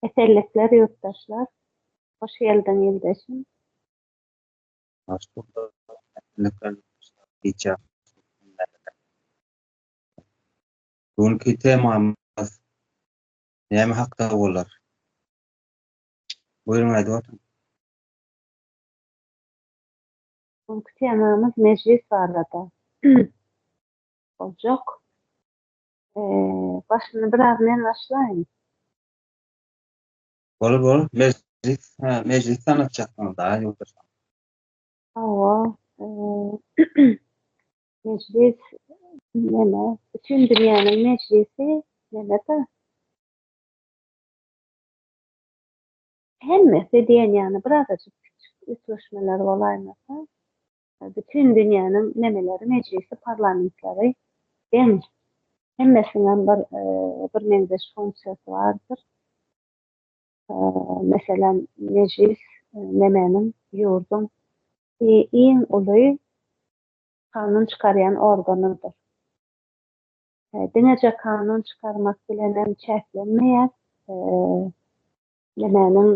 Esenlikler ýurtdaşlar. Hoş geldiň ildeşim. Hoş bulduk. Esenlikler ýurtdaşlar. Gijä Bugünki temamyz näme hakda bolar? Buyurun aýdyp otuň. Bugünki temamyz mejlis barada boljak. Eee, başyny biraz men başlaýyn. Bol bol, mejlis, ha, mejlis tanatjaksyňyz da, ýoldaş. Hawa, eee, mejlis, neme, bütün dünýäniň mejlisi, neme-de. Hemmesi diýen ýaly birazajyk kiçi üýtgeşmeler bolaýmasa. Bütin dünýäniň memeleri mejlisi parlamentleri deň. Hemmesiniňem bir bir meňzeş funksiýasy bardyr. Meselem mejlis memeniň ýurduň iň uly kanun çykarýan organydyr. Diňeje kanun çykarmak bilenem çäklenmeýär. Memeniň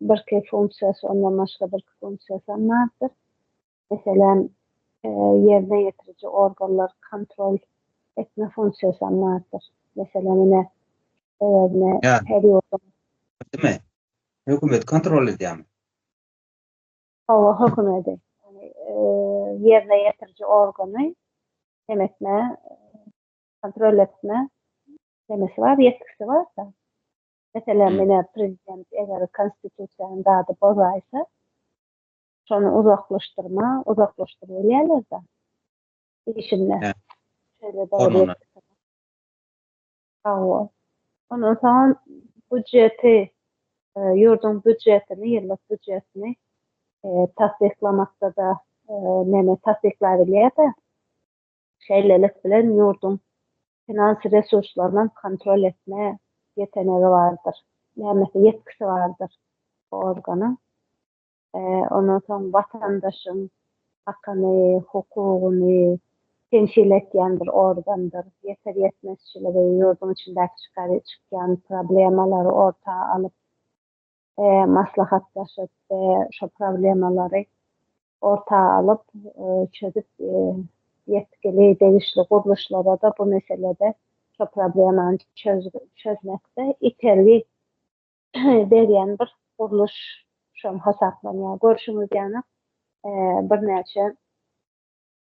Birki funksiýasy, ondan başga birki funksiýasy hem bardyr. Meselem, ýerine ýetiriji organlary kontrol etme funksiýasy hem bardyr. Meselem, ine, sebäbine her ýurduň. Dime, hökümeti kontrol edýärmi? Hawa, hökümeti. Ýerine ýetiriji organy nem etme, kontrol etme nemesi bar, ýetgisi bar-da. Meselem, menä prezident eger konstitusiýany zady bozaýsa, şony uzaklaşdyrma, uzaklaşdyr bilýärler-de. Işinde. Şeýle dogry. Hawa. Ondan soň budjeti, ýurduň budjetini, ýyllyk budjetini tassyklamakda-da meni tassyklaýar diýýär-de. Şeýlelik bilen ýurduň finans resurslarynyň kontrol etme ýetenegi bardyr, nämesi ýetkisi bardyr bu organyň. Ondan soň watandaşyň hakyny, hukugyny temsil etýän bir organdyr. Ýeter ýetmezçiligi, ýurduň içindäki çykýan problemalary orta alyp, maslahatlaşyp, şo problemalary orta alyp, çözüp, ýetgili degişli gurluşlara-da bu meselede şo problemany çözmekde itergi berýän bir gurluş şom hasaplanýar. Görşüňiz ýaly, birnäçe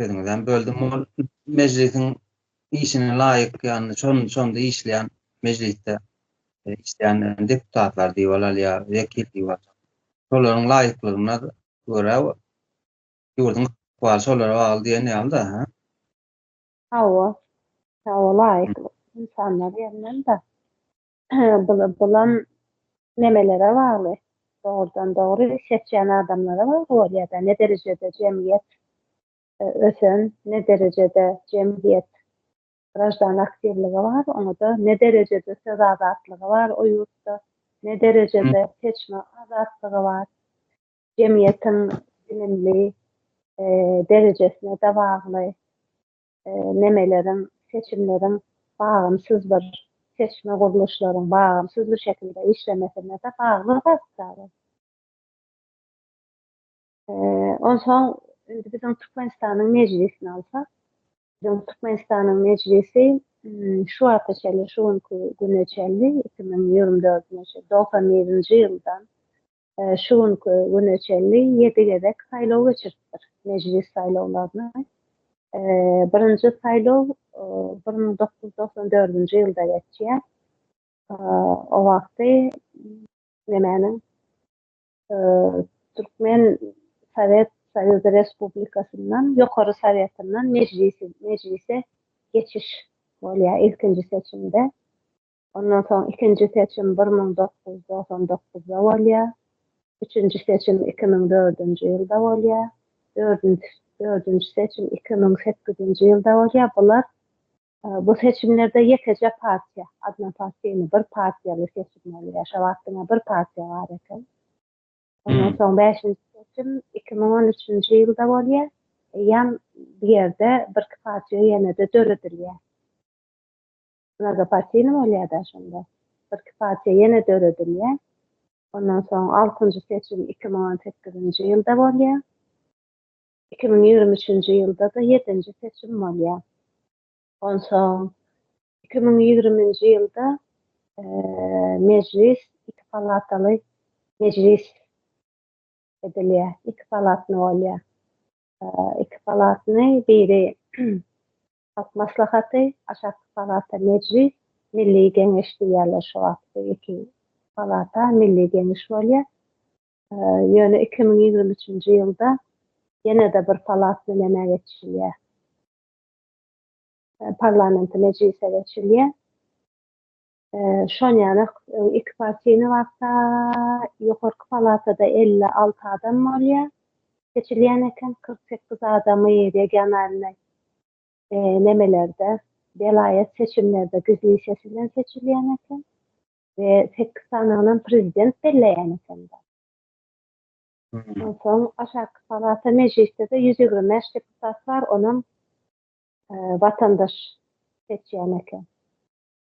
sözüňizden böldüm. Ol mejlisiň işine laýyk, ýagny şon şonda işleýän mejlisde e, işleýän deputatlar diýip alýar, wekil diýip alýar. Şolaryň laýyklygyna görä ýurduň ykbaly şolara bagly diýen ýaly-da, ha? Hawa. Hawa, laýyklyk insanlar ýerinden-de. bulam nemelere bagly, dogrudan-dogry seçýän adamlara bagly bolýar-da, ne derejede jemgyýet ösen, ne derejede jemgyýet graždan aktiwligi bar, oňa-da ne derejede söz azatlygy bar o ýurtda, ne derejede seçme azatlygy bar. Jemgyýetiň bilimli derejesine-de bagly. memeleriň, seçimleriň bagamsyz bir seçme gurluşlaryň bagamsyz bir şekilde işlemesine-de bagly zatdar. Onsoň indi biziň Türkmenistanyň Mejlisini alsak, biziň Türkmenistanyň Mejlisi şu wagta çenli, şu günki güne çenli, iki müň ýigrimi dördünji, dogsan birinji ýyldan şu günki güne çenli ýedi gezek saýlaw geçiripdir, Mejlis saýlawlaryny. Birinji saýlaw bir müň dokuz ýüz togsan dördünji ýylda geçýär. O wagty nemäniň, Türkmen Sowet Soýuzy Respublikasyndan Ýokary Sowetinden Mejlise geçiş bolýar ilkinji seçimde. Ondan soň ikinji seçim bir müň dokuz ýüz togsan dokuzda bolýar. Üçünji seçim iki müň dördünji ýylda bolýar. Dördünji dördünji seçim iki müň sekizinji ýylda bolýar. Bular bu seçimlerde ýekeje partiýa, odnopartiýny, bir partiýaly seçim bolýar. Şo wagt diňe bir partiýa bar eken. Ondan soň bäşinji seçim iki müň on üçünji ýylda bolýar. Eýýäm bu ýerde birki partiýa ýene-de döredilýär. Nagapatini bolýar-da şonda. Birki partiýa ýene döredilýär. Ondan soň altynjy seçim iki müň on sekizinji ýylda bolýar. Iki müň ýigrimi üçünji ýylda-da ýedinji seçim bolýar. Onsoň iki müň ýigriminji ýylda Mejlis iki palataly mejlis edilýär. Iki palatny bolýar. Iki palatny biri Halk Maslahaty, Aşakky palata, Mejlis, Milli Geňeş diýýärler şu wagt bu iki palata, Milli Geňeş bolýar. Ýöne iki müň ýigrimi üçünji ýylda ýene-de bir palat bilen emä geçilýär. Parlamenti mejlise geçilýär. Şonýaly iki partiýny wagta ýokarky palatada elli alty adam bolýar. Seçilýän eken kyrk sekiz adamy regionalnyý nemelerde, welaýat seçimlerde gizlin ses bilen seçilýän eken we sekiz sanygynam prezident belleýän eken. Onsoň aşaky palata mejlisde-de ýüz ýigrimi bäş deputat bar, onam watandaş seçýän eken.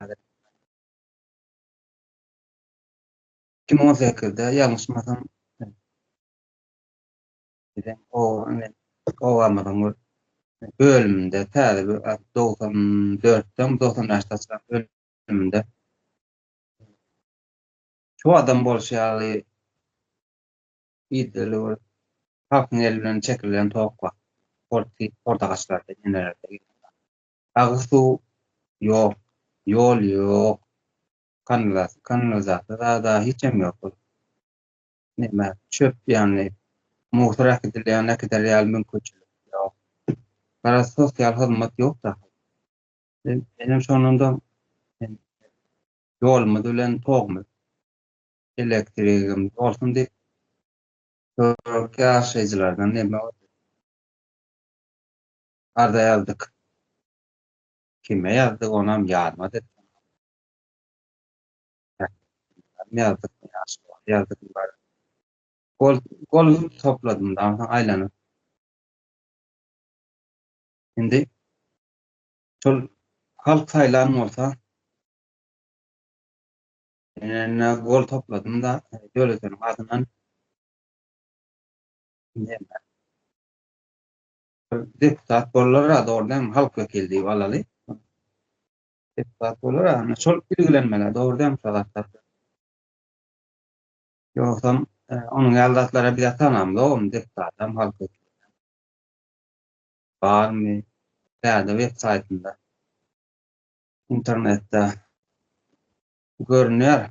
häzir. 2018-de ýalňyşmasam bize o indi obamyzyň bir bölüminde täze bir 94-den 95-de çykan bölüminde şu adam bolşy ýaly ideli bir halkyň eli bilen çekilen towuk bar. Porti portagaçlarda, inelerde. Agyz suw ýok, ýol ýok, kanlaz, kanlazasy zada hiçem ýok ol. Neme, çöp ýaly, musor äkidilýän, äkider ýaly mümkinçilik ýok. Garaz, sosial hyzmat ýok dagy. Menem şondan-da ýolumyz bilen togumyz, elektrigimiz bolsun diýip, töwerekde ýaşaýjylardan neme boldy? Arza ýazdyk. Kime ýazdyk onam ýadymad et. Ýazdyk ýazdyk bar. Gol gol topladym da aýlanyp. Indi şol halk saýlan bolsa Ene gol topladym da döwletiniň adyndan. Deputat bollar a dogry dämi halk wekili diýip alaly. Deputat bollar a şol ilgilenmeli dogry dämi şol zatlar. Ýogsam e, onuň ýaly zatlara biz atanam dogum deputat hem halk wekili. Barmy? Täze web saýtynda internetde görünýär.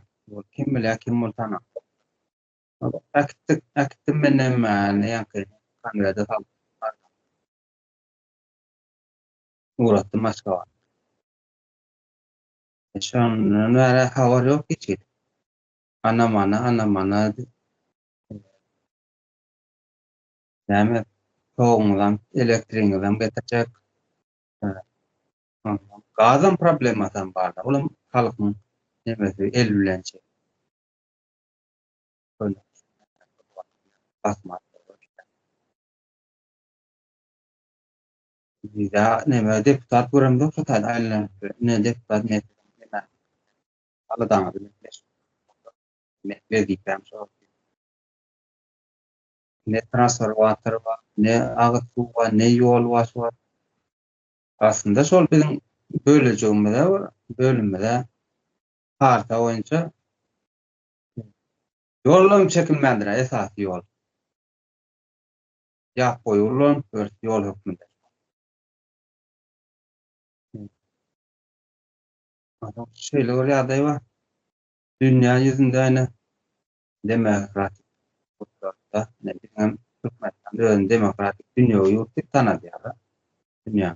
Kim bilýär kim bol tanap. Äkitdik, äkitdim menem näňki konwerde salyp barýan. Ugratdym Aşgabada. Şondan bäri habar ýok hiç hili. Ana-mana, ana-mana diýip. Näme, toguňyzam, elektrigiňizem getirjek. Gazam problemasam bar-da, olam halkyň nemesi, el bilen çek. Köneürgenç şäheri bir wagtlar Basman oba giden. Bize neme deputat göremzok şu taýda aýlanyp ýör. Ine deputat men siziň ýene aladaňyzy men beşik men wezipem şol. Ne transformator bar, ne agyz suw bar, ne ýolbaşy bar. Aslynda şol biziň bölejigimize bir bölümimize karta boýunça Ýollam çekilmändir-ä, esasy ýol. Ýap boýy ullanyp ýörüs, ýol hökmünde. Şeýle bir ýagdaý bar. Dünýä ýüzünde ine demokratik ýurtlarda, ine biziňem Türkmenistan özüni demokratik dünýewi ýurt diýip tanadýar. Dünýä.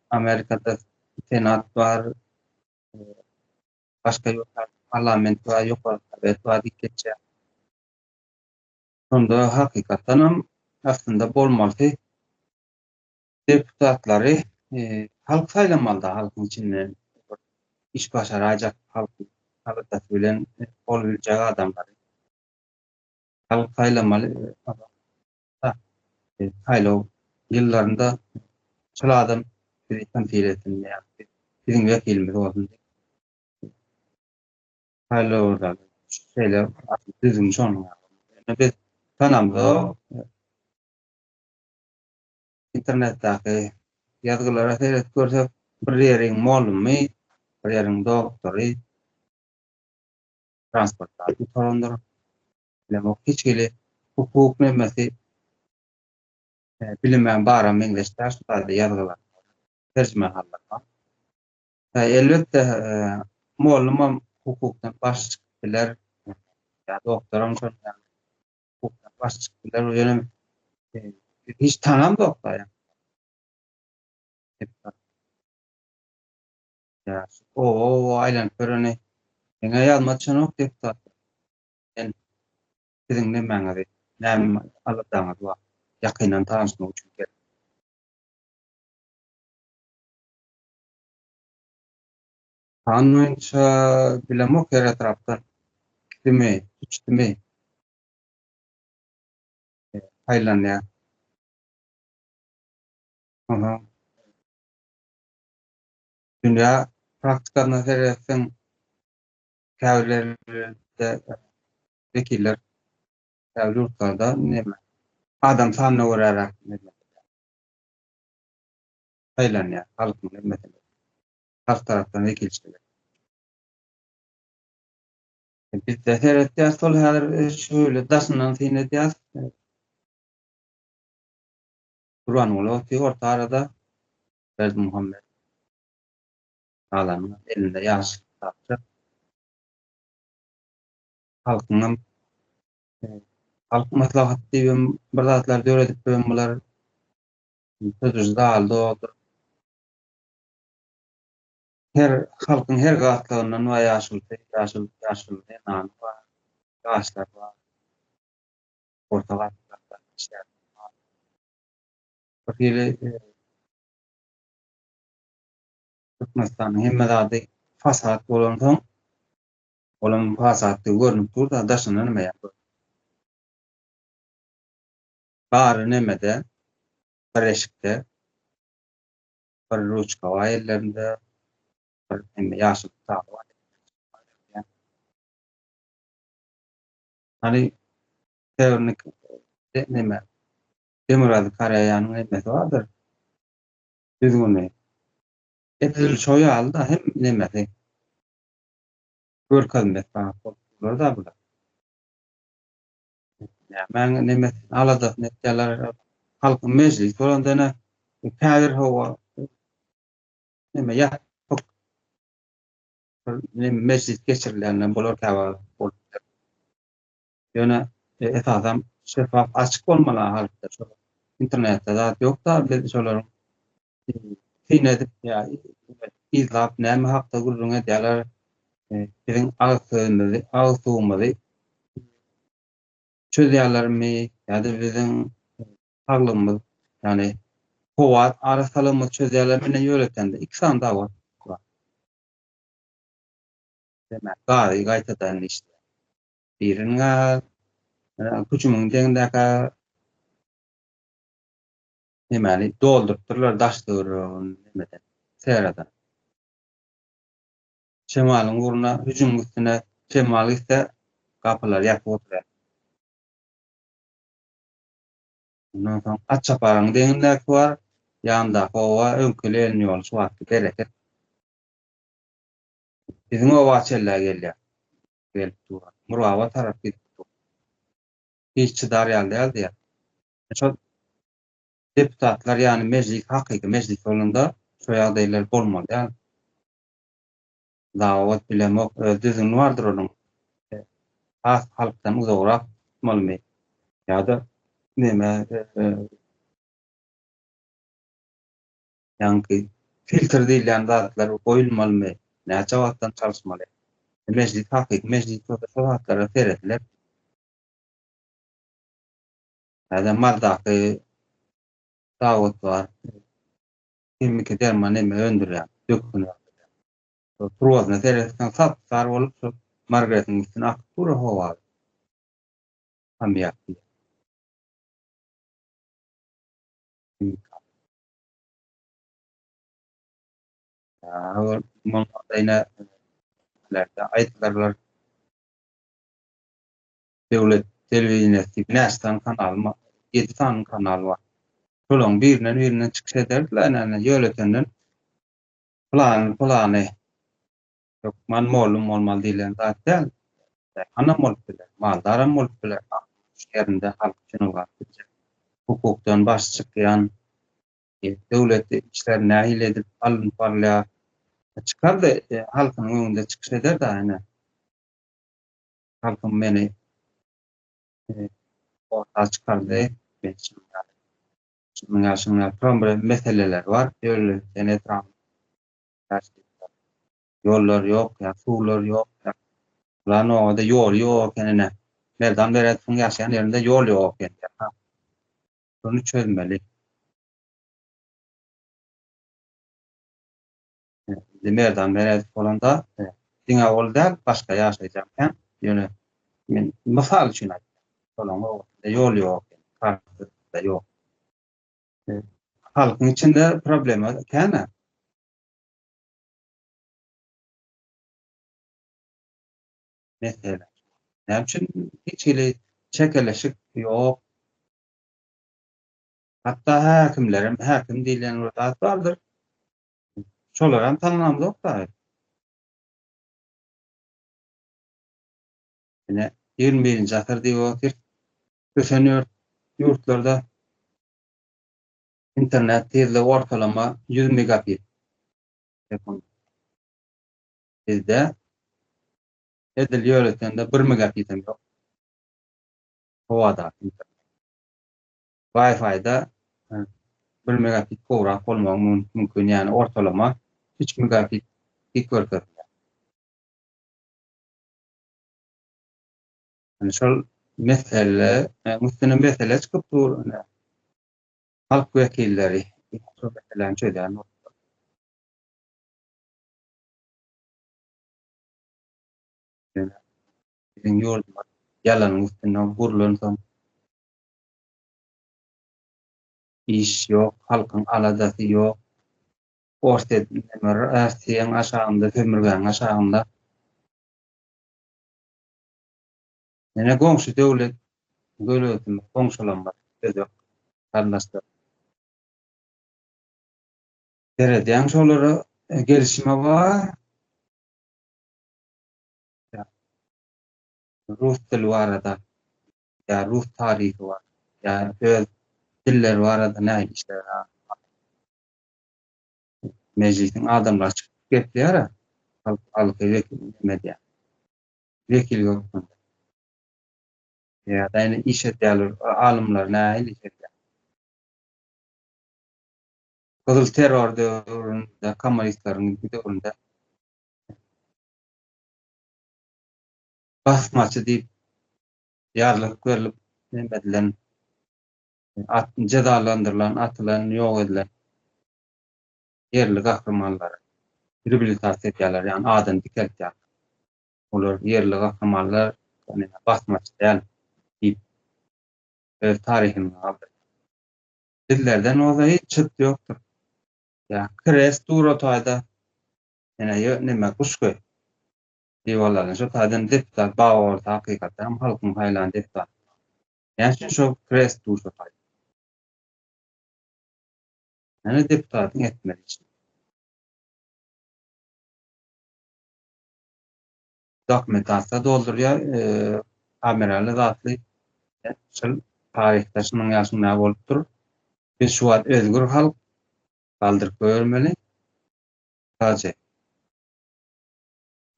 Amerikada senat bar, başga ýurtlarda parlament bar, ýokary sowet bar diýip geçýär. Şonda hakykatdanam aslynda bolmalysy deputatlary halk saýlamalyda, halkyň içinden iş başaraýjak, halkyň aladasy bilen bolubiljek adamlary halk saýlamaly. saýlaw ýyllarynda şol adam bizi temsil etsin, biziň wekilimiz bolsun diýip, saýlawlarda şeýle düzgün şonuň. Ýöne biz tanamzok, internetdäki ýazgylara seredip görsek, bir ýeriň molumy, bir ýeriň doktory, transportdan gutarandyr. Bilemok hiç hili hukuk nemmesi bilimem bara meňzeş däl şu taýda ýazgylar terjimehallarymam. He elbetde mollumam hukukdan baş çykyp biler ýa doktoram şol ýaly hukukdan baş çykyp biler bu ýöne hiç tanamzok da ýa. Ýa o aýlanyp göreni Diňe ýazma çenok deputat. Sen siziň nemäňizi, näme aladaňyz bar? Ýakyndan tanyşmak üçin geldim. Sanlyja bilemok her etrapdan. Kime, hiç kime. Aýlanýar. Aha. Dünýä praktikasynda seretseň, käbirlerinde wekiller käbir ýurtlarda näme adam sanyna göräräk saýlanýar halkyň hemmesini halk tarapdan wekilçilik bizde seretýäs şol häzir şöyle daşyndan syn edýäs Kurbanguly otyr orta arada Berdimuhammet Galanda elinde ýaşyl kitapça. Halkyňam Halk maslahaty diýibem bir zatlar döredipbem bular. Sözüji zaly doldur. Her halkyň her gatlagyndan bar ýaşulysy, ýaşul, ýaşul zenany bar, ýaşlar bar. Orta gatlakda işlär. Birhili Türkmenistanyň hemme zady fasad bolansoň, olaň fasaddygy görnüp dur-da, daşynda näme ýa görnüp dur. Bary nämede, bir eşikde, bir ruçka bar ellerinde, bir hemme ýaşyl kitaby bar ellerinde. Hany, Sewerni neme, Demirgazy Koreýanyň nemesi bardyr, düzgüni. Edil şo ýaly-da hem nemesi. Görkezmesi bar bolupdyrlar-da bular. Nämäň nemesini, aladasyny etýärler. Halkyň mejlisi bolanda-da käbir hawa neme ýapyk bir mejlis geçirilende bolar käwagt. Ýöne esasam şeffaf açyk bolmaly halkda şo internetde zat ýokda biz şolaryň syn edip ýa yzlap näme hakda gürrüň edýärler biziň agyz sözümizi agyz suwumyzy çözýärlermi ýa-da biziň saglygymyz ýagny howa arassalygymyzy çözýärler mine ýöretende iki sany dawa demek gary gaýtadan işleýär Biriniň hüjümiň deňindäki hemani doldurypdyrlar daş töweregini hemeden serada. Şemalyň ugruna hüjümiň üstüne şemal gitse gapylar ýapyk oturýar. Ondan soň at çaparyň deňindäki bar, ýandaky oba öňküli elini ýoly şu wagtky bereket. Biziň oba çellä gelýär. gelip duran. Murgaba tarap gidip dur. Hiç çydar ýaly däl diýýär. Şol deputatlar ýany mejlis hakyky mejlis bolanda şo ýagdaýlar bolmaly däl. Zawod bilemok öz düzgüni bardyr onuň. Has halkdan uzagrak tutmalymy ýa-da neme Ýaňky filtr diýilýän zatlar goýulmalymy? Näçe wagtdan çalyşmaly? Mejlis hakyky mejlis bolsa şo zatlara serediler. Täze maldaky zawod bar. Himiki derman neme öndürýär. Dökün. Şo turbasyna seretseň sap sar bolup şo margaretiň üstüne akyp dur howa. Hamýak. Ýa-da bolmasa ýene nähiliräkde aýdylyrlar. Döwlet telewideniýesi näçe sany kanal bar? Ýedi sany kanal bar. Şolaryň birinden birinden çykyş ederdiler näme ýöletenden pylany pylany Hökman mollum bolmaly diýlen zat däl. Daýhanam bolup biler, maldaram bolup biler, halkyň şu ýerinde halk üçin ylgap biljek, hukukdan baş çykýan, döwlet işleri nähili edip alnyp barylýar, çykar-da, halkynyň öňünde çykyş eder-de, ine, halkym meni orta çykardy, men şunuň ýaly, şunuň ýaly, şunuň ýaly, turan bir meseleler bar, ýörite etrap Daşlykda ýollar ýok, ýa suwlar ýok, ýa bularyň nobada ýoly ýok eken ine. Merdan Beredowyň ýaşaýan ýerinde ýol ýok eken ýa-ha. Şuny çözmeli. Indi Merdan Beredow bolanda diňe ol däl, başga ýaşaýjak hem. Ýöne men mysal üçin aýtdym. Şolaryň nobasynda ýol ýok eken, kartda ýok. Halkyň içinde problema kän-ä. Mesele. Näme üçin hiç hili çekeleşik ýok? Hatda häkimler hem, häkim diýlen bir zat bardyr. Şolar hem tanlamazok-da. Ine, 21-nji asyr diýip otyr. Ösen ýurtlarda internet tizligi ortalama ýüz megabit sekund. Bizde edil ýöretende bir megabitem ýok. Howadaky internet. Wi-Fi-da bir megabit gowrak bolmagy mümkin, ýagny ortalama üç megabit dik görkezýär. Indi şol mesele, e, üstüne mesele çykyp dur. Indi halk wekilleri şol meseläni çözýän bolsa. Biziň ýurdumyz ýalanyň üstünde gurlansoň, iş ýok, halkyň aladasy ýok. Orsýet, Rossiýaň aşagynda, sömürgäniň aşagynda. Ýene goňşy döwlet döwletimiz goňşulanmaz özbek garyndaşlar. Seredýän şolara gelişime bar. Rus dili barada ýa rus taryhy bar. Ýa öz dilleri barada nähili işler bar. Mejlisiň adamlary çykyp gepleýär-ä. Halk alky wekili näme edýär. wekil hökmünde. Ýa-da indi iş edýärler, alymlar nähili iş edýär? Gyzyl terror döwründe, kommunistleriň döwründe basmaçy diýip ýarlyk berlip, neme edilen, at, jezalandyrylan, atylan, ýok edilen ýerli gahrymanlary reabilitasiýa edýärler, ýagny adyny dikeltýärler. Olar ýerli gahrymanlar, ýagny basmaçy däl diýip, öz taryhyny galdyrýar. Bizlerden bolsa hiç çyrt ýokdur. Ýa kres dur o taýda, ýene ýo neme guş göý. Diwallaryny şo taýdan deputat bag bolsa hakykatdanam halkyň saýlan deputaty. Näme üçin şo kres dur şo taýda? Hany deputatyň etmeli işi. Dokumentasiýa doldurýar, kamerali zatly şol taryhda şunuň ýaşyň nä bolupdyr. Biz şu wagt özgür halk galdyryp goýbermeli. Taje.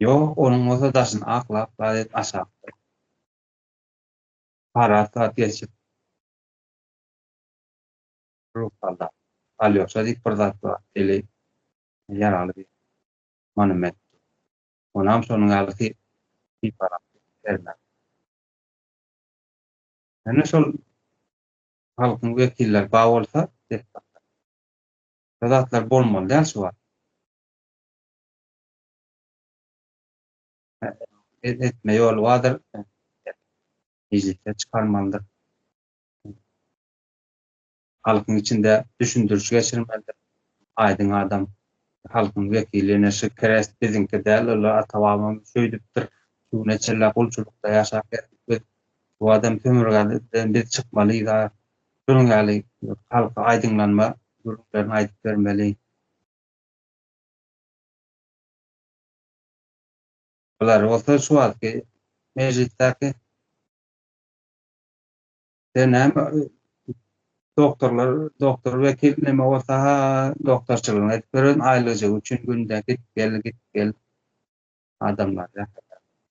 Ýok, onuň bolsa daşyny aklap, gazet aşakdyr. Parat zat geçip. Ruhanda Alýoşa diýip bir zat bar, eli ýaraly bir monument dur. Onam şonuň ýaly syp, sypalap bermeli. Ýöne şol halkyň wekilleri bar bolsa, deputatlar, şo zatlar bolmaly däl şu wagt. Etme ýoly bardyr, mejlisde çykarmalydyr. Halkyň içinde düşündiriş geçirmelidir. Aýdyň adam, halkyň wekili ine şu krest biziňki däl, ol ata-babamyz şöýdüpdir, şu güne çenli gulçulykda ýaşap geldik biz, bu adam sömürgäden biz çykmalydys, şunuň ýaly halka aýdyňlanma gürrüňlerini aýdyp bermeli. Bular bolsa şu wagtky mejlisdäki. Sen näme doktorlar, doktor wekil näme bolsa ha doktorçylygyny edip beren aýlyjygy üçin günde git gel git gel adamlar ýa.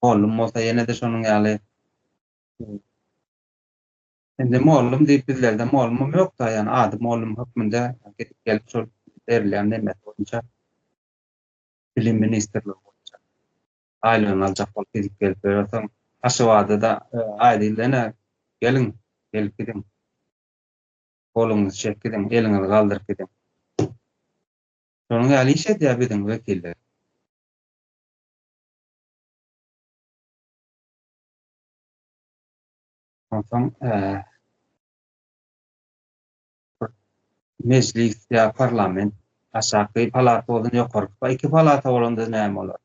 Mollum bolsa ýene-de şonuň ýaly Indi mollum diýip bizlerde mollumam ýokda, ýani ady mollum hökmünde gidip gelip şol berilýän nemesi boýunça bilim ministrligi boýunça Aýlygyny aljak bolup gidip gelip ýörersiň. Aşgabada-da aýdyldy ene, geliň, gelip gidiň. Goluňyzy çekip gidiň, eliňizi galdyryp gidiň. Şonuň ýaly iş edýär biziň wekiller. Onsoň. Mejlis ýa parlament aşaky palata bolsun ýokarky pa iki palata bolanda näme bolar?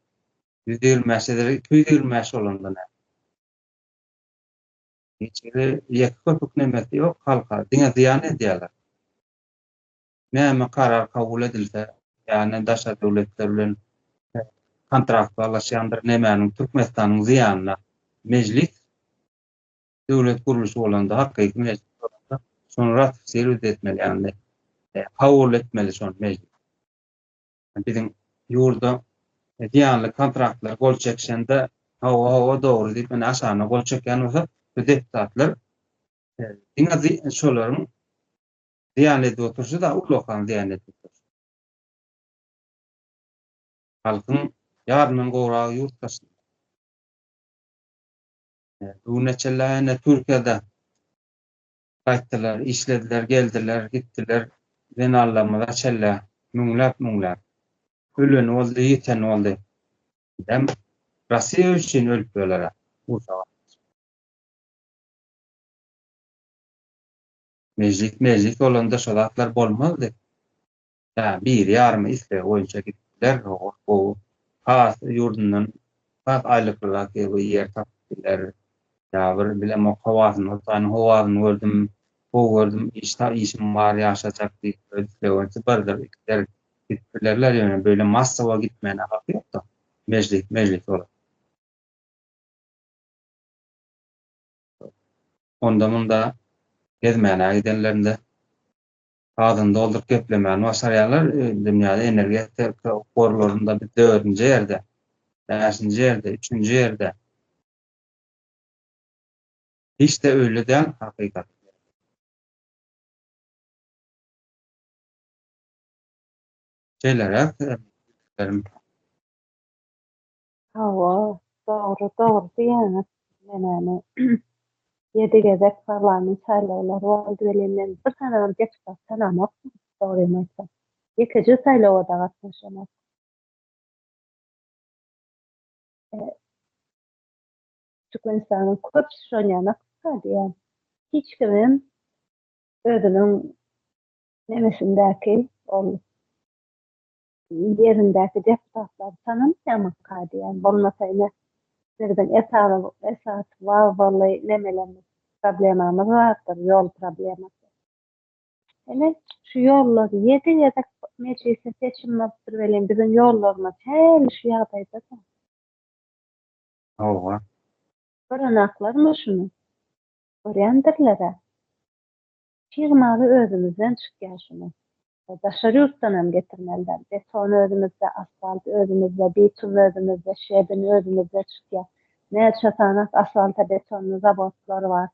Ýüz ýigrimi bäş edere iki ýüz ýigrimi bäş bolanda näme? Hiç biri ýeke köpük nemesi ýok halka diňe zyýan edýärler. Näme karar kabul edilse ýagny daşary döwletler bilen kontrakt baglaşýandyr nemäniň Türkmenistanyň zyýanyna mejlis döwlet gurluşy bolanda, hakyky mejlis bolanda, şony ratifisirowat etmeli, ýagny kabul etmeli şony mejlis. Biziň ýurda zyýanly kontraktlar gol çekişende, hawa, hawa, dogry diýip, ine aşagyna gol çekýän bolsa, bu deputatlar diňe şolaryň zyýan edip oturşy-da, ullakan zyýan edip oturşy. Halkyň ýaryndan gowragy ýurt daşynda. Bu güne çenli ene Türkiýede gaýtdylar, işlediler, geldiler, gitdiler. Zenanlarymyza çenli müňläp-müňläp öleni boldy, ýiteni boldy. Bizem Rossiýa üçin ölüp ýöler-ä. Mejlis-mejlis bolanda şo zatlar bolmazdy. Ýa biri ýarymy islegi boýunça gidip biler, ol gowy has ýurdundan has aýlyklyrak ýer tapyp biler. Ýa bir bilemok howasyny Hudaýyň howasyny gördüm, gowy gördüm, iş ta işim bar ýaşajak diýip öz islegi boýunça birdir, ikidir gidip bilerler, ýöne beýle massowa gitmäne haky ýokda, mejlis mejlis bolar. Onda munda gezmäne gidenlerinde gazyny dolduryp geplemäni başarýarlar. Dünýäde energetika gorlarynda biz dördünji ýerde, bäşinji ýerde, üçünji ýerde. Hiç-de öýle däl hakykat. Şeýleräk. Hawa, dogry, dogry diýýäňiz. Menämi, ýedi gezek parlament saýlawlary boldy welin, men bir sanam deputat tanamokdym, dogrymy aýtsam. Ýekeje saýlawa-da gatnaşamok. Türkmenistanyň köp şonýan ykdysady ýaly. Hiç kimem özüniň nemesindäki ol Ýerindäki deputatlar tananmaýamyka diýýän. Bolmasa ine bizden esas wagzyly nemelerimiz problemamyz bardyr ýol problemasy. Ine şu ýollar ýedi gezek mejlisde seçim bolupdyr welin biziň ýollarymyz häli şu ýagdaýda dur. Howwa. Görenaklarmy şuny? Görýändirlerä. Çig maly özümizden çykýar şuny daşary ýurtdan hem getirmeliler. Beton özümizde, asfalt özümizde, bitum özümizde, şebin özümizde çykýar. Näçe sanak asfalta betonyny zawodlar bar.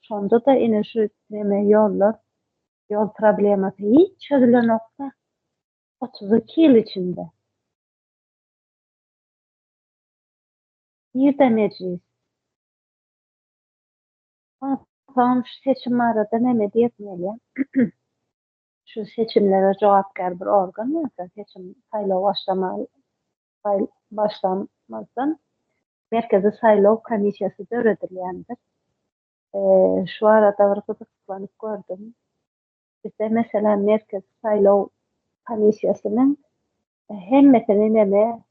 Şonda-da ine şu neme ýollar, ýol problemasy hiç çözülenokda otuz iki ýyl içinde. Nirde mejlis? Onsoň şu seçim barada näme diýesim gelýär? Şu seçimlere jogapkär bir organ bolsa, seçim saýlaw başlamaly başlamazdan Merkezi saýlaw komissiýasy döredilýändir. Şu barada bir gyzyklanyp gördüm. Bizde meselem Merkezi saýlaw komissiýasynyň hemmesini näme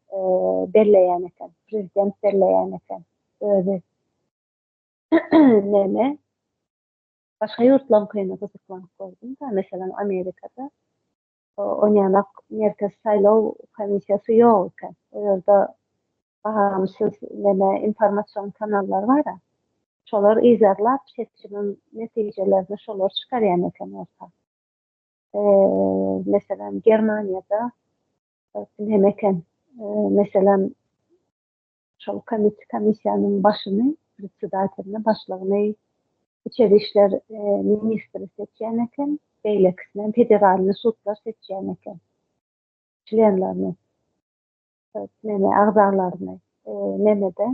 belleýän eken, prezident belleýän eken özi. näme başga ýurtlaryňkyna gyzyklanyp gördüm da meselem amerikada onýanak merkez saýlaw komissiýasy ýok eken o ýerde bagamsyz näme informasion kanallar bara şolar yzarlap seçimiň netijelerini şolar çykarýan eken orta meselem germaniýada näme eken meselem Şol komit komissiýanyň başyny, predsedatelini, başlygyny içeri işler ministri seçýän eken, beýlekisinem federalny sudlar seçýän eken. Çlenlerini, neme, agzalaryny. Neme-de,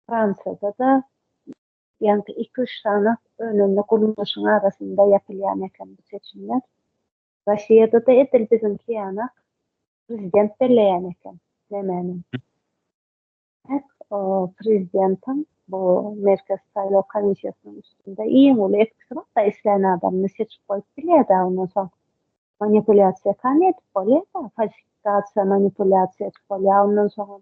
Fransiýada-da ýaňky iki-üç sany önümli gurluşyň arasynda ýapylýan eken bu seçimler. Raşiýadada edil biziňki ýanak prezident belleýän eken nemänim. Hek o prezidentiň bu merkez saýlaw komissiýasynyň üstünde iň uly etkisi bar da islän adamyny seçip goýup bilýär da ondan soň manipulýasiýa kän edip bolýar da falsifikasiýa manipulýasiýa edip bolýar ondan soňam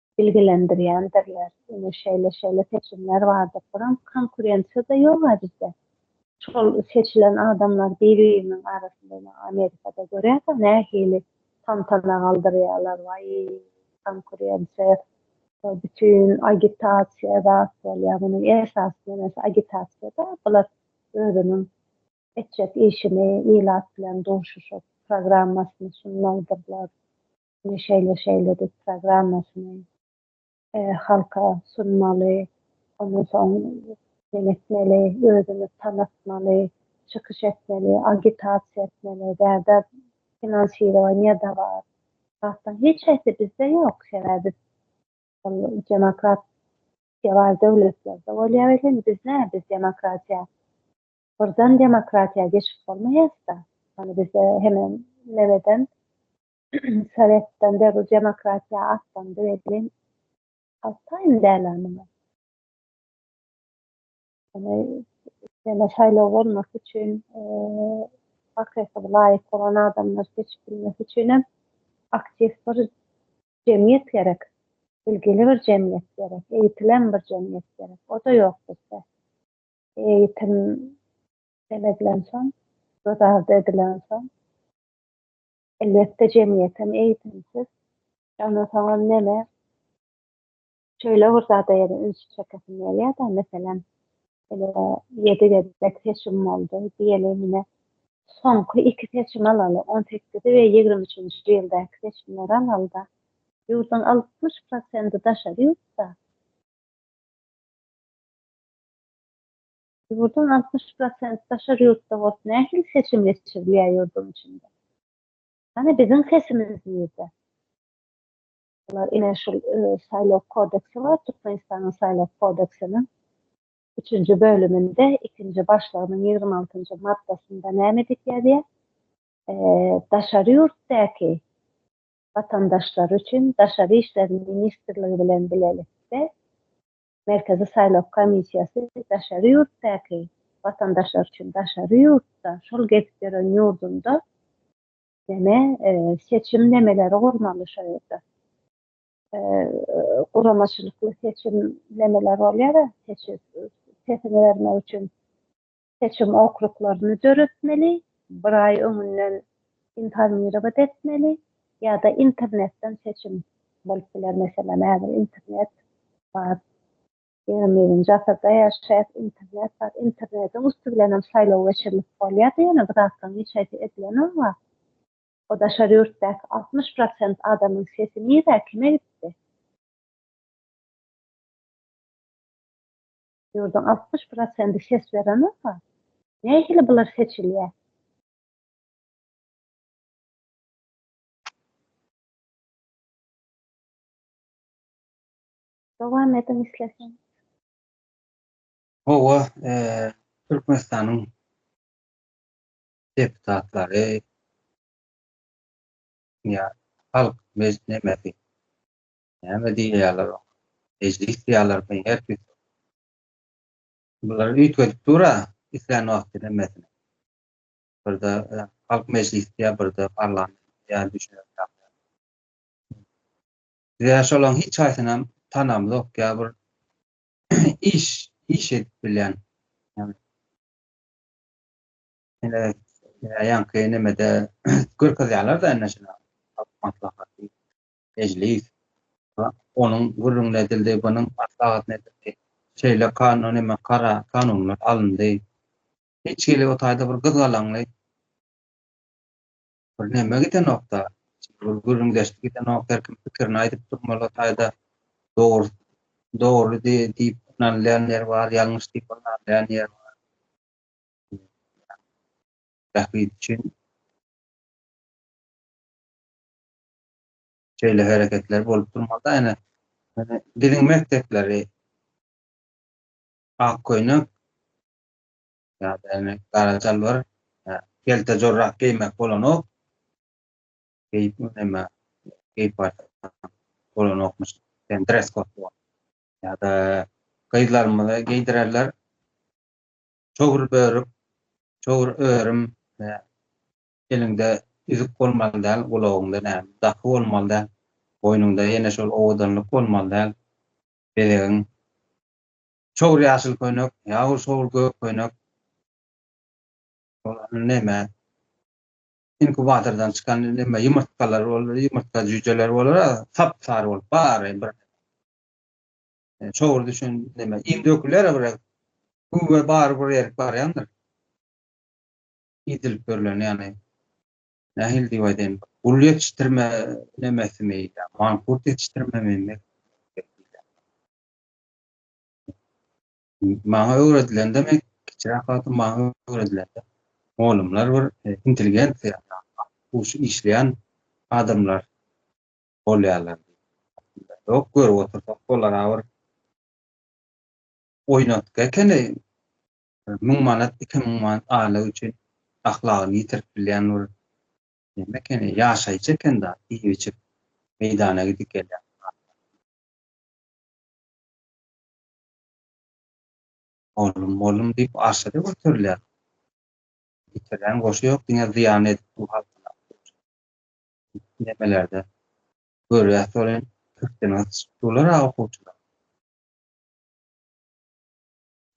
bilgilendirýändirler. Ine şeýle-şeýle seçimler bardyr. Buram konkurensiýa-da ýog-a bizde. Şol seçilen adamlar bir-biriniň arasynda ine Amerikada görýäs-ä nähili tantana galdyrýarlar. Waý, konkurensiýa, bütin agitasiýa zat bolýar. Munuň esasy nebesi agitasiýa-da. Bular özüniň etjek işini ilat bilen duşuşyp programmasyny sunmalydyrlar. e, şeýle şeýle diýip programmasyny e, halka sunmaly, ondan soň etmeli, özüni tanatmaly, çykyş etmeli, agitasiýa etmeli, däde finansirowanie da bar. Hatta hiç hepsi bizde yok. Sebäbi demokrat var döwletlerde bolýar welin biz ne biz demokratiýa birden demokratiýa geçip bolmaýasda. Hani bizde hemen nereden Sowetden beri demokratiýa atlandy welin, haltaýyn däl-ä muňa. Ýöne ýene şaýlaw bolmasy üçin, hakyky laýyk bolan adamlar seçip bilmesi üçin hem aktiw bir jemgyýet gerek. Bilgili bir jemgyýet gerek, eýitilen bir jemgyýet gerek. O-da ýok bizde. Eýitim seredlensoň, göz ardy edilensoň, Elbetde jemgyýetem eýitimsiz. Onda soňam mene şeýle bir zada ýene üns çekesim gelýär-de, meselem, ine, ýedi gezek seçim boldy. Diýeli, ine, soňky iki seçimi alaly, on sekiziji we ýigrimi üçünji ýyldaky seçimleri alaly-da, ýurduň altmyş prosenti daşary ýurtda. Ýurduň altmyş prosent daşary ýurtda bolup nähili seçim geçirilýär ýurduň içinde? Hany biziň sesimiz nirde? Olar ine şul saýlaw kodeksi bar Türkmenistanyň saýlaw kodeksiniň üçünji bölüminde ikinji başlygynyň ýigrimi altynjy maddasynda näme diýip ýazýar? Daşary ýurtdaky watandaşlary üçin daşary işler ministrligi bilen bilelikde Merkezi saýlaw komissiýasy daşary ýurtdaky watandaşlar üçin daşary ýurtda şol gezip ýören ýurdunda ýene seçim nemeleri gurmaly şo ýerde guramaçylykly seçim nemeleri bolýar sesiňi bermek üçin seçim okruklaryny döretmeli, bir aý öňünden informirowat etmeli ýa-da internetden seçim bolup biler. Meselem, häzir internet bar, ýigrimi birinji asyrda ýaşaýas, internet bar, internetiň üsti bilen hem saýlaw geçirilip bolýar, ýöne bu zatlaryň hiç haýsy edilenokga. O daşary ýurtdaky altmyş prosent adamyň sesi nirä, kime gitdi? Ýurduň altmyş prosendi ses beren bolsa, nähili bular seçilýär? Dowam ediň isleseň. Hawa, Türkmenistanyň deputatlary ýa halk mejlisinde Näme diýýäler oňa? Mejlis diýýäler mi? Her tüýs. Bular üýtgedip dur-a, islän wagty hemmesini. Birde Halk Mejlisi diýýär, birde Parlament diýýär, düşünerli zat däl. Biz-ä şolaryň hiç haýsynam tanamzok, ýa bir iş, iş edip bilýän. Ine, ýaňky nemede görkezýärler-de ine şular, Halk Maslahaty. Mejlis we onuň gürrüňine edildi, bunuň maslahatyna edildi. Şeýle kanun hem-ä karar, kanunlar alyndy. Hiç hili o taýda bir gyzgalaňly bir neme gidenok-da, bir gürrüňdeşlik gidenok, her kim pikirini aýdyp durmaly o taýda. Dogry, dogry diýip ynanylýan ýeri bar, ýalňyş diýip ynanylýan ýeri bar. Bähbit üçin. şeýle hereketler bolup durmasa, ýöne biziň mekdepleri ak köýnek ýa-da gara çalbar kelte jorap geýmek bolanok. Geýip näme geýip barsaň bolanokmyş. Sen dress kod bar. Ýa-da gyzlarymyza geýdirerler. Çowur börük, çowur örüm, Eliňde üzük bolmaly däl, gulagyňda näme, daky bolmaly däl, boýnuňda ýene şol owadanlyk bolmaly däl, bezegiň. Çowur ýaşyl köýnek, ýa-u çowur gök köýnek, ol neme, inkubatordan çykan neme, ýumurtgalar bolar, ýumurtga jüýjeleri bolar-a, sap-sary bolup, bary bir çowur düşen neme, iým döküler-ä bir, güwwe bary bir erik barýandyr. idilip berlen ýagny nähili diýip aýdaýyn gul ýetişdirme nemesimi mankurt ýetişdirmemi maňa öwredilende men kiçiräk wagtym maňa öwredilende molumlar bir e, intelligensiýa huşy işleýän adamlar bolýarlar. Ýok görüp otursak olara bir oýnatgy ekeni Müň manat, iki müň manat aýlyk üçin ahlagyny ýitirip bilýän bir näme ekeni, ýaşaýjy eken-da, iýip-içip meýdana gidip gelýän zatlar. Mollum, mollum diýip arşa-da göterilýär. Ýitirýän goşy ýok, diňe zyýan edip dur halkyna. Nemelerde görýäs welin, kürtdene syçyp durlar-a okuwçylar.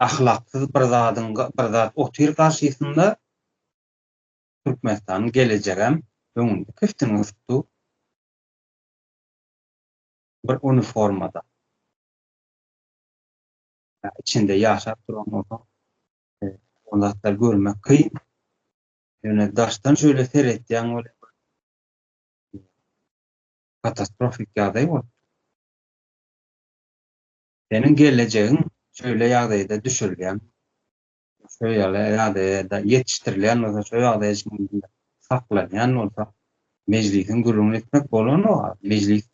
ahlaksyz bir zadyň bir zat otyr garşysynda Türkmenistanyň gelejegem öňünde kiftini gysdy bir uniformada ýa içinde ýaşap duran bolsa ol zatlary görmek kyn ýöne daşdan şöyle seretýäň welin katastrofik ýagdaý bolupdyr. Seniň gelejegiň şöýle ýagdaýda düşürilýän, şöýle ýagdaýda ýetişdirilýän bolsa, şöýle ýagdaýda şeýle saklanýan bolsa, Mejlisiň gürrüňini etmek bolanok a, Mejlis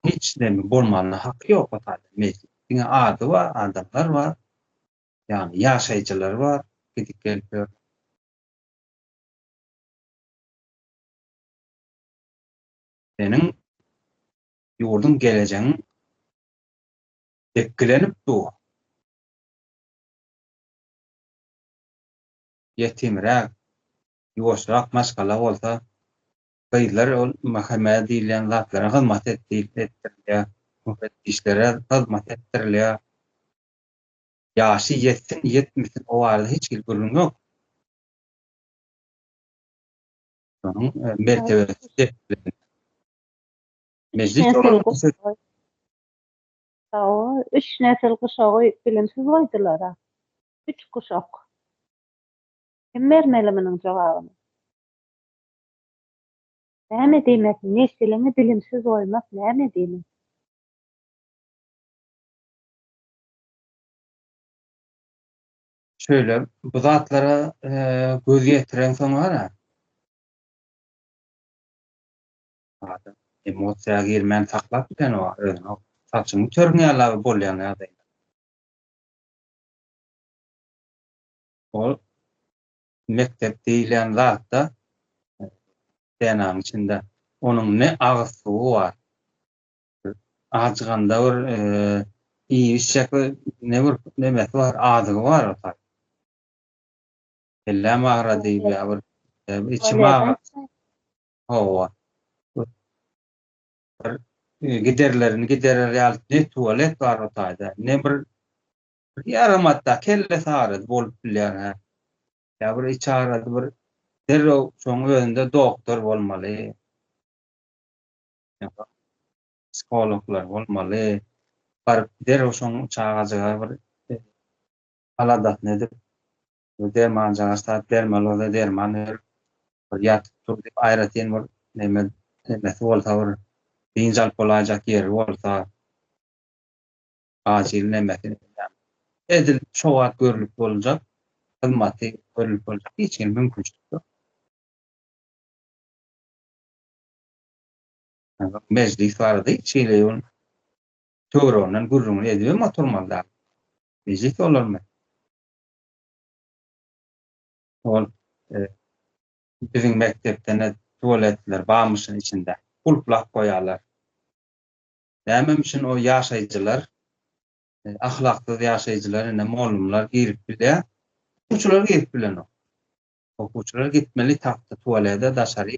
hiç näme bolmanyna haky ýok o taýda, Mejlis diňe ady bar, adamlar bar, ýagny ýaşaýjylar bar, gidip gelip ýör. Seniň ýurduň gelejegiň depgilenip dur. Ýetimräk, ýuwaşrak maşgala bolsa, gyzlar ol mhme diýilýän zatlara hyzmat etdirilýär, müfetdişlere hyzmat etdirilýär. Ýaşy ýetsin, ýetmesin o barada hiç hili gürrüň ýok. Şonuň mertebesi depginli. Mejlis olaryň söz Hawa, üç nesil guşagy bilimsiz goýdular-a. Üç guşak. Kim bermeli munuň jogabyny? Näme diýmek, nesiliňi bilimsiz goýmak näme diýmek? Şöyle bu zatlara e, göz yetiren soň ara. Emosiýa girmän saklap bilen o özüni. Saçyny törüň ýala bolýan ýagdaý. Ol mekdep diýilýän zatda e, DNA'nın içinde onun ne agyz suwy bar, Ajyganda bir iýip içjek bir ne bir nemesi bar, azygy bar ota. Elläm agrady ýa bir içim agrady. Hawa. Bir giderlerini giderer ýaly ne tualet bar otaýda, ne bir ýaram hatda kelle sarydy bolup bilýär ha. Ýa bir iç agrady bir derrew şoň özünde doktor bolmaly. Ýa-da psihologlar bolmaly. Baryp derrew şoň çagajyga bir aladasyny edip, bir dermanjyga ýarsap, dermologa derman berip, bir ýatyp dur diýip aýratyn bir neme nemesi bolsa bir dynç alyp bolaýjak ýeri bolsa, acyl nemesi diýýän. Edil şo wagt görlüp boljak hyzmaty görlüp boljak hiç hili mümkinçilik ýok. Mejlis bardy, şeýle ýol töwereginden gürrüňini edibem oturmaly dal. Mejlis bolarmy? Ol biziň mekdepde-ne tualetler barmyşyn içinde, gulplap goýarlar. Nämem üçin o ýaşaýjylar, ahlaksyz ýaşaýjylar ine mollumlar girip bilýä, okuwçylar girip bilenok. Okuwçylar gitmeli tagta tualede daşary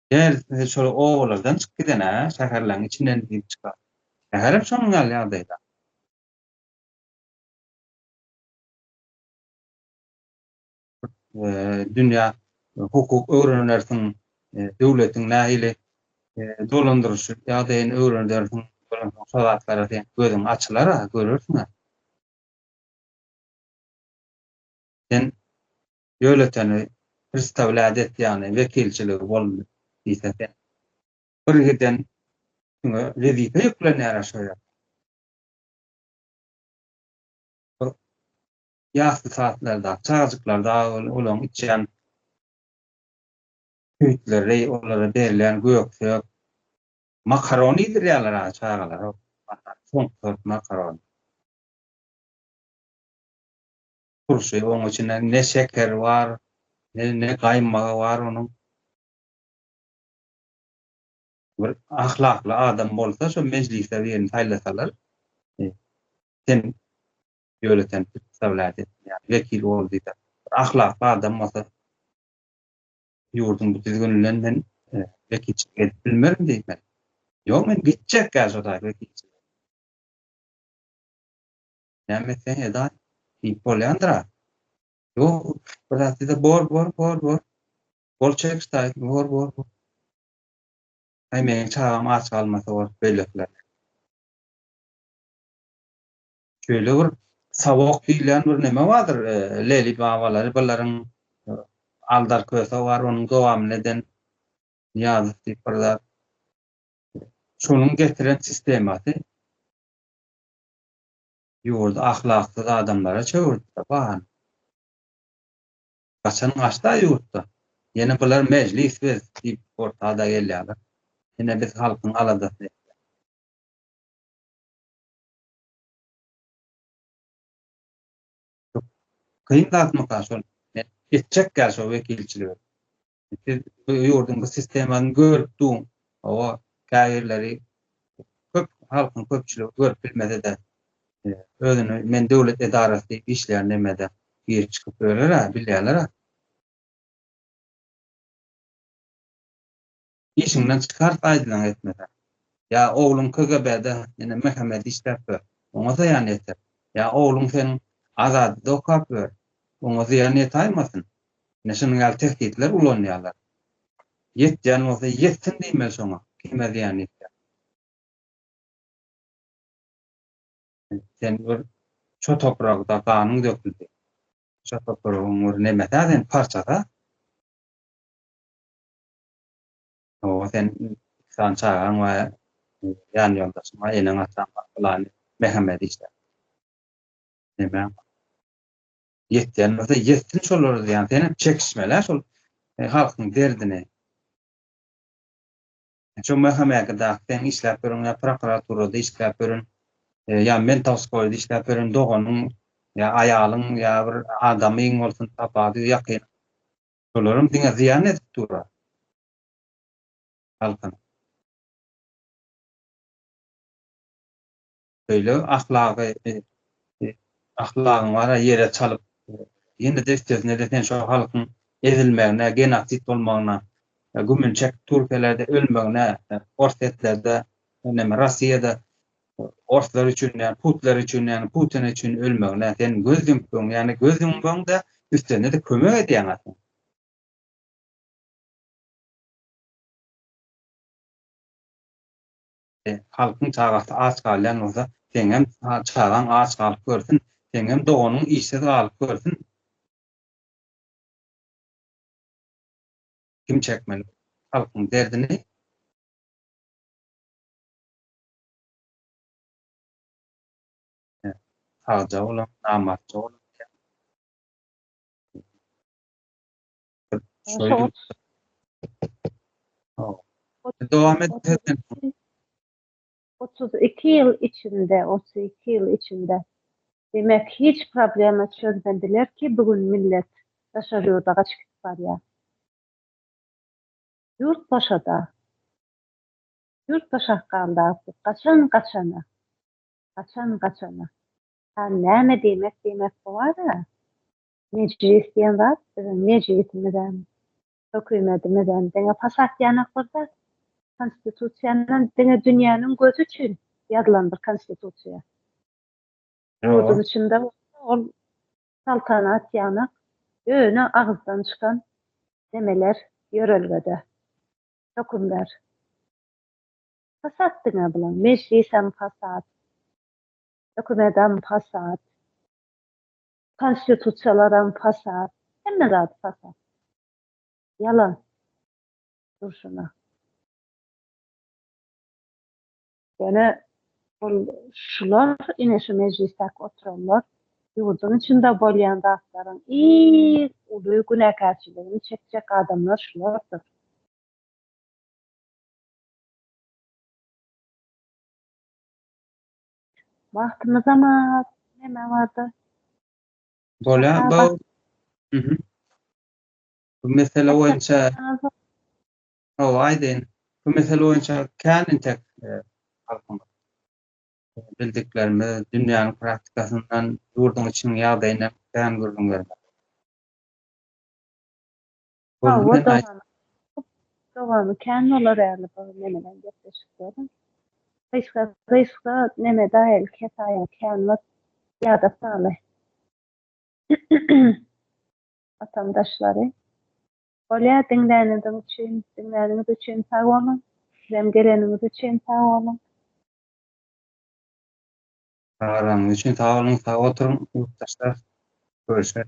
Gel, sizi şol obalardan çyk gidene, şäherleriň içinden girip çykar. Şäherem şonuň ýaly ýagdaýda. Dünýä hukuk öwrenersiň, döwletiň nähili dolandyryş ýagdaýyny öwrenersiň, şo zatlara sen gözüň açylar-a, görersiň-ä. Sen döwleteni pristawlýat etýäni, wekilçiligi bolundy diýse sen. Birgiden üstüňe wezipe ýüklenýär aşa ýerde. Ýasly saatlarda çagajyklar dagy ol olaň içýän süýtleri, olara berilýän göksök, makaron iýdirýärler a çagalara. Soňky sort makaron. turşy, onuň içinde ne şekeri bar, ne gaýmagy bar onuň. Bir ahlakly adam bolsa şo mejlise birini saýlasalar, sen ýönekeý wlaýat etmeýär, wekil bol diýseler, bir ahlakly adam bolsa ýurduň bu düzgüninden men wekilçilik edip bilmerin diýmeli. Ýok men gitjek-ä şo wekilçilige. Näme etseň eda hit bolýandyra. Ýok, bir zat diýse bor, bor, bor, bor. Bol çekişdi aýdym, bor, bor, bor. Aý meniň çagam aç galmasa bor, beýlekiler. Şöyle bir savok diýilýän bir näme bardyr, e, Leli babalary bularyň e, Aldar köse bar, onuň dowamyny eden Niýazow diýip bir zat. Şonuň getiren sistemasy Ýurdy ahlaksyz adamlara çöwürtdä bahan. Gaçan gaçda ýurtdan. Ýene bular mejlis biz diýip ortada gelýäler. Ýene biz halkyň aladasyny etýäs. Kyn zatmyka şol? Men etjek ýa şo wekilçiligi. Siz bu ýurduň bu sistemany görüp duň. Hawa, käbirleri köp halkyň köpçüligi görüp bilmese-de, özüni men döwlet edarasy diýip işleýän nemede girip çykyp ýörer-ä, bilýärler-ä. Işiňden çykart aýdylan etmeseň. Ýa ogluň KGB-de ýene Mehemedi işläp ýör, oňa zyýan ýeter. Ýa ogluň seniň Azadada okap ýör, oňa zyýan ýetaýmasyn. Ine şunuň ýaly tehditler ulanýarlar. Ýetýän bolsa ýetsin diýmeli şoňa, kime zyýan ýetýär. Sen bir şo topragda ganyň döküldi. Şo topragyň bir nemesi-ä sen, parçasy-ä. Oba sen iki sany çagaň we ýan ýoldaşyň bar, eneň-ataň bar, pylany Mehemedi işläp. Nemäň bar? ýetýän bolsa ýetsin şolara diýýän sen hem çekişmelä şol e, halkyň derdini şu möhümmäki da sen işläp ýörüň ýa prokuraturada işläp ýörün e, ýa men tawskoýda işläp ýörün doganyň ýa aýalyň ýa bir adamyň bolsun tapady ýakyn şolaryň diňe zyýan edip durar halkyň Beýle ahlagy ahlagyň bara ýere çalyp ýene-de üstesine-de sen şo halkyň ezilmegine, genosid bolmagyna gümün çekip türkiýelerde ölmegine orsetlerde näme rossiýada orslar üçin ýa putler üçin ýa putin üçin ölmegine sen göz ýumpuň ýagny göz ýumbaňda üstesine-de kömek edýäň aslynda. Sen, halkyň çagasy aç galýan bolsa, seňem çagaň aç galyp görsün, seňem doganyň işsiz galyp görsün. Kim çekmeli halkyň derdini? Sagja bolam, namartja bolam diýýär. Şöyle. Tamam. Devam et. Pesen. 32 ýyl içinde, 32 ýyl içinde. Demek, hiç problema çözmediler ki, bugün millet daşar ýurda gaçyp gidip barýar. Ýurt boşada. Ýurt boşakganda, gaçan gaçana. Gaçan gaçana. Ha, näme diýmek diýmek bu ara? Mejlis diýen zat biziň mejlisimizem, hökümetimizem diňe fasat ýanak bir zat. Konstitusiýanam diňe dünýäniň gözi üçin ýazylan bir konstitusiýa. Ýurduň içinde bolsa ol saltanat ýanak, ýöne agyzdan çykan nemeler, ýörelgede hökümler. Fasat diňe bulaň. Mejlisem fasat. Hökümetem fasat. Konstitusiýalaram fasad, hemme zat fasad. Ýalan durşuna. Ýöne ol şular, ine şu mejlisdäki oturanlar ýurduň içinde bolýan zatlaryň iň uly günäkärçiligini çekjek adamlar şulardyr. Wagtymyzam az, neme barda. Bolýa, bu Bu mesele boýunça Hawa, aýdaýyn. Bu mesele boýunça kän entek halkyň bildiklerimiz, dünýäniň praktikasyndan, ýurduň içiniň ýagdaýyndan kän gürrüň bermek. Hawa, dowamy, dowamy kän bolar ýaly bu menenem gepleşikleriň. Gyşka, gyşka neme daýaly kesaýa kän bor, ýada saly. Watandaşlary. Bolýa, diňläniniz üçin, diňläniňiz üçin sag boluň. Sizem geleniňiz üçin sag boluň. Çagyranyňyz üçin sag boluň, sag oturyň, ýurtdaşlar. Görüşmek.